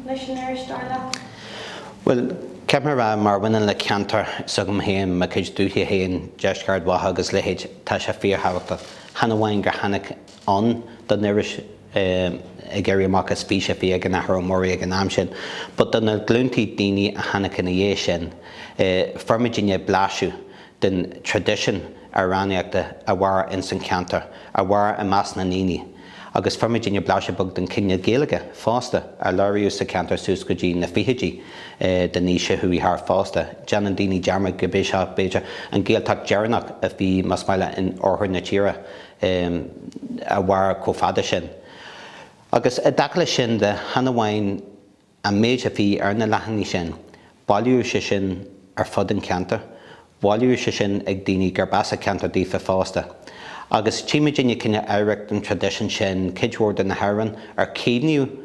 leis an iris, dar leat? Bhuel, caithfidh mé a rá, mar a bhaineann le ceantar s'agam féin, mo chuid dúiche féin, Deisceart Ard Mhacha agus leithéid, tá sé fíorthabhachtach. Chan amháin gur tháinig ann don iris, ag éirí amach as fís a bhí ag an Athair Ó Muirí ag an am sin, but do na glúntaí daoine a tháinig ina dhiaidh sin, fuair muidinne blaiseadh den traidisiún amhránaíochta a mhair ins an cheantar, a mhair i measc na ndaoiní, agus fuair muidinne blaiseadh beag den chineál Gaeilge fosta a labhraíodh sa cheantar suas go dtí na fichidí den aois a chuaigh thart fosta. Déanann daoiní dearmad gurb é seo, b'fhéidir, an Ghaeltacht deireanach a bhí, más maith leat, in oirthear na tíre a mhair chomh fada sin. Agus i dtaca leis sin de, chan amháin, An méid a bhí ar na leathanaigh sin, bailíodh sé sin ar fud an cheantair, bailíodh sé sin ag daoine gurb as a ceantar daofa fosta. Agus tchímidinne cineál oidhreacht an traidisiúin sin cuid mhór de na hamhráin ar caomhnaíodh,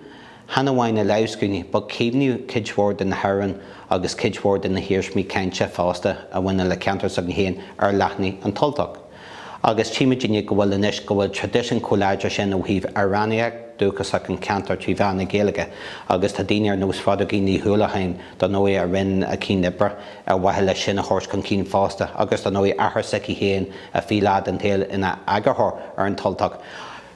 chan amháin na lámhscríbhinní, but caomhnaíodh cuid mhór de na hamhráin agus cuid mhór de na hiarsmaí cainte fosta a bhaineann le ceantar s'againn féin ar leathanaigh an tUltach. agus tchímidinne go bhfuil anois, go bhfuil traidisiún chomh láidir sin ó thaobh amhránaíocht dúchasach an cheantair trí mheán na Gaeilge agus tá daoine ar nós Phádraigín Ní Uallacháin, dar ndóigh, a rinne éacht oibre ar mhaithe leis sin a thabhairt chun cinn fosta agus dar ndóigh athair s'aici féin a bhí lá den tsaol ina eagarthóir ar An tUltach.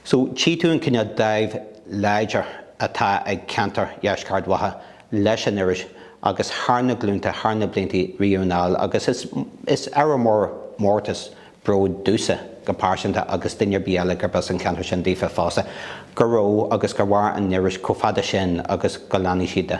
So tchí tú an cineál dáimh láidir atá ag ceantar Dheisceart Ard Mhacha. leis an iris agus thar na glúnta, thar na bliantaí riamh anall agus is ábhar mór mórtais bróid domhsa go pearsanta agus duine ar bith eile gurb as an cheantar sin daofa fosta, go raibh agus gur mhair an iris chomh fada sin agus go leanfaidh sí de.